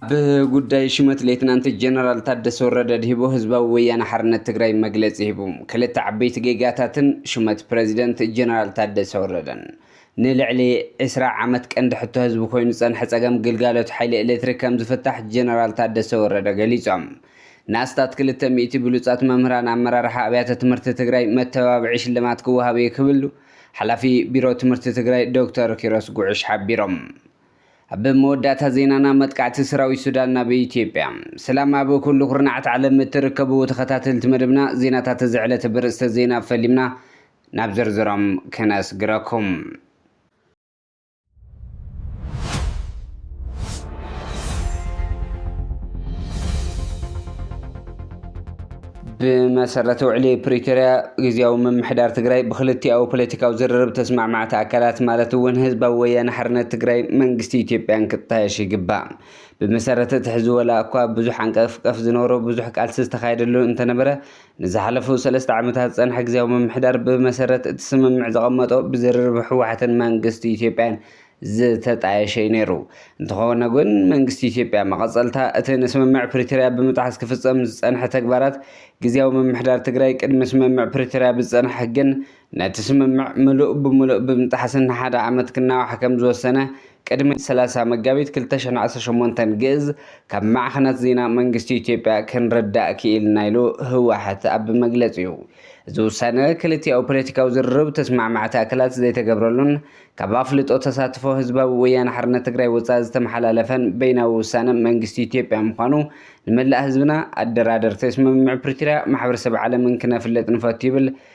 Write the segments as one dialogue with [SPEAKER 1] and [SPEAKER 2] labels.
[SPEAKER 1] ብጉዳይ ሹመት ሌትናንት ጀነራል ታደሰ ወረደ ድሂቦ ህዝባዊ ወያነ ሓርነት ትግራይ መግለፂ ሂቡ። ክልተ ዓበይቲ ጌጋታትን ሹመት ፕረዚደንት ጀነራል ታደሰ ወረደን ንልዕሊ ዕስራ ዓመት ቀንዲ ሕቶ ህዝቢ ኮይኑ ዝፀንሐ ፀገም ግልጋሎት ሓይሊ ኤሌክትሪክ ከምዝፍታሕ ጀነራል ታደሰ ወረደ ገሊፆም። ንኣስታት ክልተ ሚእቲ ብሉፃት መምህራን ኣመራርሓ ኣብያተ ትምህርቲ ትግራይ መተባብዒ ሽልማት ክወሃብ ኢዩ ክብሉ ሓላፊ ቢሮ ትምህርቲ ትግራይ ዶክተር ኪሮስ ጉዕሽ ሓቢሮም። ኣብ መወዳእታ ዜናና መጥቃዕቲ ሰራዊት ሱዳን ናብ ኢትዮጵያ። ሰላም ኣብ ኩሉ ኩርናዓት ዓለም እትርከቡ ተኸታተልቲ መደብና ዜናታት እዚ ዕለት ብርእስተ ዜና ፈሊምና ናብ ዝርዝሮም ክነስግረኩም። ብመሰረት ውዕሊ ፕሪቶርያ ግዜያዊ ምምሕዳር ትግራይ ብክልቲኣዊ ፖለቲካዊ ዝርርብ ተስማዕማዕቲ ኣካላት ማለት እውን ህዝባዊ ወያነ ሓርነት ትግራይ መንግስቲ ኢትዮጵያን ክጣየሽ ይግባእ። ብመሰረት እቲ ሕዚ ወላ እኳ ብዙሕ ዓንቀፍቀፍ ዝነበሮ ብዙሕ ቃልሲ ዝተኻየደሉ እንተነበረ ንዝሓለፉ ሰለስተ ዓመታት ዝፀንሐ ግዝያዊ ምምሕዳር ብመሰረት እቲ ስምምዕ ዘቐመጦ ብዝርርብ ህወሓትን መንግስቲ ኢትዮጵያን ዝተጣየሸ እዩ ነይሩ። እንተኾነ ግን መንግስቲ ኢትዮጵያ መቐፀልታ እቲ ንስምምዕ ፕሪቶርያ ብምጥሓስ ክፍፀም ዝፀንሐ ተግባራት ግዝያዊ ምምሕዳር ትግራይ ቅድሚ ስምምዕ ፕሪቶርያ ብዝፀንሐ ሕግን ነቲ ስምምዕ ምሉእ ብምሉእ ብምጥሓስን ንሓደ ዓመት ክናዋሕ ከም ዝወሰነ ቅድሚ ሰላሳ መጋቢት ክልተ ሽሕን ዓሰርተ ሸሞንተን ግእዝ ካብ ማዕኸናት ዜና መንግስቲ ኢትዮጵያ ክንርዳእ ክኢልና ኢሉ ህወሓት ኣብ መግለጺኡ። እዚ ውሳነ ክልቲኣዊ ፖለቲካዊ ዝርርብ ተስማዕማዕቲ ኣካላት ዘይተገብረሉን ካብ ኣፍልጦ ተሳትፎ ህዝባዊ ወያነ ሓርነት ትግራይ ወፃኢ ዝተመሓላለፈን በይናዊ ውሳነ መንግስቲ ኢትዮጵያ ምዃኑ ንመላእ ህዝብና፣ ኣደራደርቲ ስምምዕ ፕሪቶርያ፣ ማሕበረሰብ ዓለምን ክነፍልጥ ንፈቱ ይብል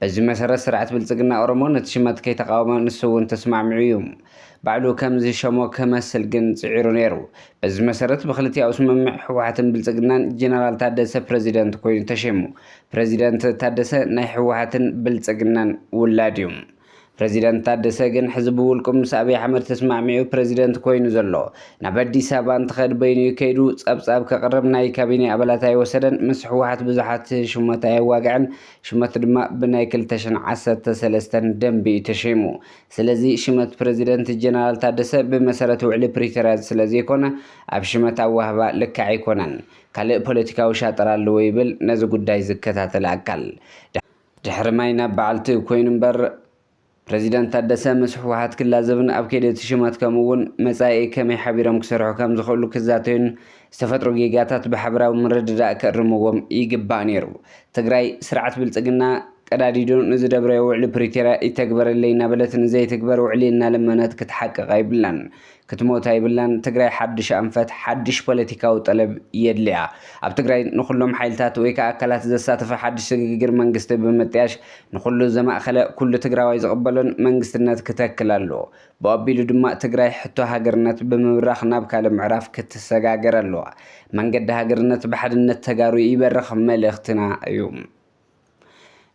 [SPEAKER 1] በዚ መሰረት ስርዐት ብልፅግና ኦሮሞ ነቲ ሽመት ከይተቓወመ ንሱ እውን ተስማዕሚዑ እዩ። ባዕሉ ከም ዝሸሞ ከመስል ግን ፅዒሩ ነይሩ። በዚ መሰረት ብክልቲኣኡ ስምምዕ ህወሓትን ብልፅግናን ጀነራል ታደሰ ፕረዚደንት ኮይኑ ተሸይሙ። ፕረዚደንት ታደሰ ናይ ህወሓትን ብልፅግናን ውላድ እዩ። ፕረዚደንት ታደሰ ግን ሕዚ ብውልቁ ምስ ኣብይ ኣሕመድ ተስማዕሚዑ ፕረዚደንት ኮይኑ ዘሎ። ናብ ኣዲስ ኣበባ እንትኸድ በይኑ እዩ ከይዱ፣ ፀብፃብ ከቕርብ ናይ ካቢኔ ኣባላት ኣይወሰደን፣ ምስ ህወሓት ብዙሓት ሹመት ኣየዋግዐን፣ ሹመቱ ድማ ብናይ ክልተ ሽሕን ዓሰርተ ሰለስተን ደንቢ እዩ ተሸይሙ። ስለዚ ሽመት ፕረዚደንት ጀነራል ታደሰ ብመሰረት ውዕሊ ፕሪቶርያ ስለዘይኮነ ኣብ ሽመት ኣዋህባ ልክዕ ኣይኮነን። ካልእ ፖለቲካዊ ሻጥር ኣለዎ ይብል ነዚ ጉዳይ ዝከታተል ኣካል። ድሕሪ ማይ ናብ በዓልቲ ኮይኑ እምበር ፕረዚደንት ታደሰ ምስ ህወሓት ክላዘብን ኣብ ከይዲ እቲ ሹመት ከምኡ እውን መፃኢ ከመይ ሓቢሮም ክሰርሑ ከምዝኽእሉ ክዛተዩን ዝተፈጥሩ ጌጋታት ብሓበራዊ ምርድዳእ ክእርምዎም ይግባእ ነይሩ። ትግራይ ስርዓት ብልፅግና ቀዳዲዱ ንዝደብረዮ ውዕሊ ፕሪቶርያ ይተግበረለይ እናበለት ንዘይትግበር ውዕሊ እናለመነት ክትሓቅቕ ኣይብላን። ክትሞት ኣይብላን ትግራይ ሓዱሽ ኣንፈት ሓዱሽ ፖለቲካዊ ጠለብ የድልያ። ኣብ ትግራይ ንኹሎም ሓይልታት ወይ ከኣ ኣካላት ዘሳተፈ ሓዱሽ ስግግር መንግስቲ ብምጥያሽ ንኹሉ ዘማእኸለ ኩሉ ትግራዋይ ዝቕበሎን መንግስትነት ክተክል ኣለዎ። ብኡ ኣቢሉ ድማ ትግራይ ሕቶ ሃገርነት ብምብራኽ ናብ ካልእ ምዕራፍ ክትሰጋገር ኣለዋ። መንገዲ ሃገርነት ብሓድነት ተጋሩ ይበርኽ መልእኽትና እዩ።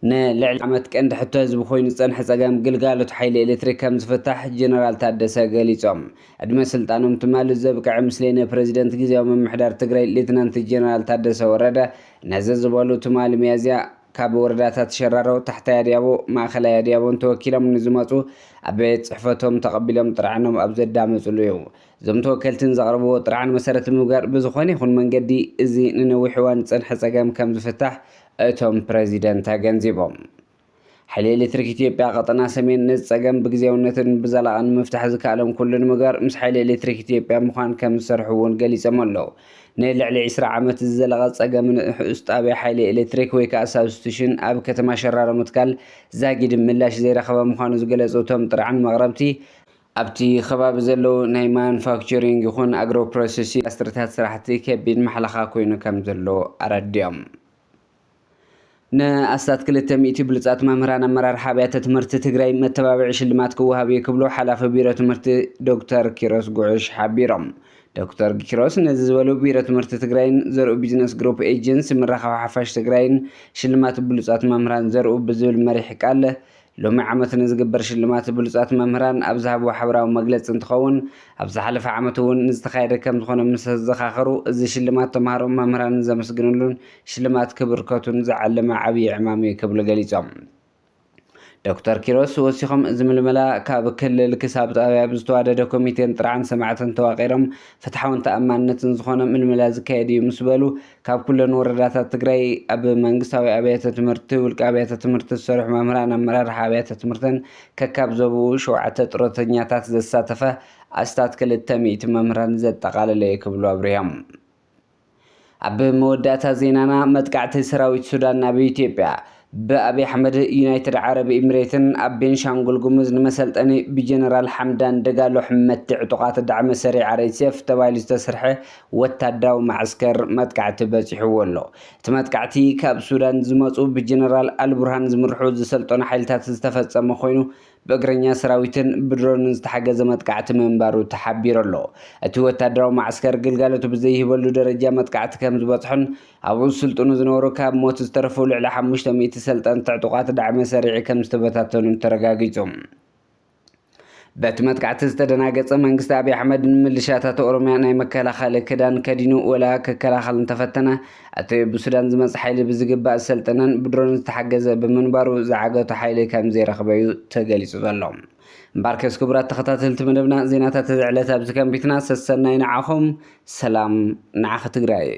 [SPEAKER 1] ንልዕሊ ዓመት ቀንዲ ሕቶ ህዝቢ ኮይኑ ዝፀንሐ ፀገም ግልጋሎት ሓይሊ ኤሌክትሪክ ከምዝፍታሕ ጀነራል ታደሰ ገሊፆም። ዕድመ ስልጣኖም ትማሊ ዘብቅዐ ምስሌነ ፕረዚደንት ግዚያዊ ምምሕዳር ትግራይ ሌተናንት ጀነራል ታደሰ ወረደ ነዚ ዝበሉ ትማሊ ሚያዝያ ካብ ወረዳታት ሸራሮ፣ ታሕታይ ኣድያቦ፣ ማእኸላይ ኣድያቦን ተወኪሎም ንዝመፁ ኣብ ቤት ፅሕፈቶም ተቐቢሎም ጥርዓኖም ኣብ ዘዳመፅሉ እዩ። እዞም ተወከልትን ዘቕረብዎ ጥርዓን መሰረት ብምግባር ብዝኾነ ይኹን መንገዲ እዚ ንነዊሕ እዋን ዝፀንሐ ፀገም ከምዝፍታሕ እቶም ፕረዚደንት ኣገንዚቦም። ሓይሊ ኤሌክትሪክ ኢትዮጵያ ቀጠና ሰሜን ነዚ ፀገም ብግዚያውነትን ብዘላቒን ንምፍታሕ ዝከኣሎም ኩሉ ንምግባር ምስ ሓይሊ ኤሌክትሪክ ኢትዮጵያ ምዃን ከምዝሰርሑ እውን ገሊፆም ኣለው። ንልዕሊ ዕስራ ዓመት ዝዘለቐ ፀገም ንኡስ ጣብያ ሓይሊ ኤሌክትሪክ ወይ ከዓ ሳብስቲሽን ኣብ ከተማ ሸራሮ ምትካል ዛጊድ ምላሽ ዘይረኸበ ምዃኑ ዝገለፁ እቶም ጥርዓን መቕረብቲ፣ ኣብቲ ከባቢ ዘለዉ ናይ ማኑፋክቸሪንግ ይኹን ኣግሮ ፕሮሰሲንግ ኢንዳስትሪታት ስራሕቲ ከቢድ ማሕለኻ ኮይኑ ከምዘሎ ኣረዲኦም። ንኣስታት ክልተ ሚእቲ ብሉፃት መምህራን ኣመራርሓ ኣብያተ ትምህርቲ ትግራይ መተባብዒ ሽልማት ክወሃብ ኢዩ ክብሉ ሓላፊ ቢሮ ትምህርቲ ዶክተር ኪሮስ ጉዕሽ ሓቢሮም። ዶክተር ኪሮስ ነዚ ዝበሉ ቢሮ ትምህርቲ ትግራይን ዘርኡ ቢዝነስ ግሩፕ ኤጀንሲ ምርኻብ ሓፋሽ ትግራይን ሽልማት ብሉፃት መምህራን ዘርኡ ብዝብል መሪሕ ቃል ሎሚ ዓመት ንዝግበር ሽልማት ብሉፃት መምህራን ኣብ ዝሃብዎ ሓበራዊ መግለፂ እንትኸውን፣ ኣብ ዝሓለፈ ዓመት እውን ንዝተኻየደ ከምዝኾነ ምሰዘኻኸሩ፣ እዚ ሽልማት ተምሃሮን መምህራንን ዘመስግንሉን ሽልማት ክብርከቱን ዝዓለመ ዓብዪ ዕማም እዩ ክብሉ ገሊፆም። ዶክተር ኪሮስ ወሲኾም እዚ ምልመላ ካብ ክልል ክሳብ ጣብያ ብዝተዋደደ ኮሚቴን ጥርዓን ሰማዕትን ተዋቒሮም ፍትሓውን ተኣማንነትን ዝኾነ ምልመላ ዝካየድ እዩ ምስበሉ፣ ካብ ኩለን ወረዳታት ትግራይ ኣብ መንግስታዊ ኣብያተ ትምህርቲ፣ ውልቀ ኣብያተ ትምህርቲ ዝሰርሑ መምህራን፣ ኣመራርሓ ኣብያተ ትምህርትን ከካብ ዞብኡ ሸውዓተ ጥሮተኛታት ዘሳተፈ ኣስታት ክልተ ሚእቲ መምህራን ዘጠቓለለ እዩ ክብሉ ኣብሪሆም። ኣብ መወዳእታ ዜናና መጥቃዕቲ ሰራዊት ሱዳን ናብ ኢትዮጵያ ብኣብይ ኣሕመድ ዩናይትድ ዓረብ ኢምሬትን ኣብ ቤንሻንጉል ጉሙዝ ንመሰልጠኒ ብጀነራል ሓምዳን ደጋሎ ሕመቲ ዕጡቓት ዳዕመ ሰሪዕ ኣርኤስኤፍ ተባሂሉ ዝተስርሐ ወታደራዊ መዓስከር መጥቃዕቲ በፂሑዎ ኣሎ። እቲ መጥቃዕቲ ካብ ሱዳን ዝመፁ ብጀነራል ኣልቡርሃን ዝምርሑ ዝሰልጠኑ ሓይልታት ዝተፈፀመ ኮይኑ ብእግረኛ ሰራዊትን ብድሮንን ዝተሓገዘ መጥቃዕቲ ምንባሩ ተሓቢሩ'ሎ። እቲ ወታደራዊ መዓስከር ግልጋሎቱ ብዘይህበሉ ደረጃ መጥቃዕቲ ከምዝበጽሖን ኣብኡ ዝስልጥኑ ዝነበሩ ካብ ሞት ዝተረፉ ልዕሊ ሓሙሽተ ሚእቲ ሰልጠንቲ ዕጡቓት ዳዕመ ሰሪዕ ከምዝተበታተኑን ተረጋጊጹ። በቲ መጥቃዕቲ ዝተደናገጸ መንግስቲ ኣብይ ኣሕመድ ንምልሻታት ኦሮሚያ ናይ መከላኸሊ ክዳን ከዲኑ ወላ ክከላኸል እንተፈተነ እቲ ብሱዳን ዝመጽ ሓይሊ ብዝግባእ ዝሰልጠነን ብድሮን ዝተሓገዘ ብምንባሩ ዝዓገቶ ሓይሊ ከምዘይረኽበ'ዩ ተገሊጹ ዘሎ። እምበኣርከስ ክቡራት ተኸታተልቲ መደብና ዜናታት እዚ ዕለት ኣብዚ ከንቢትና ሰሰናዩ ንዓኹም ሰላም ንዓኺ ትግራይ።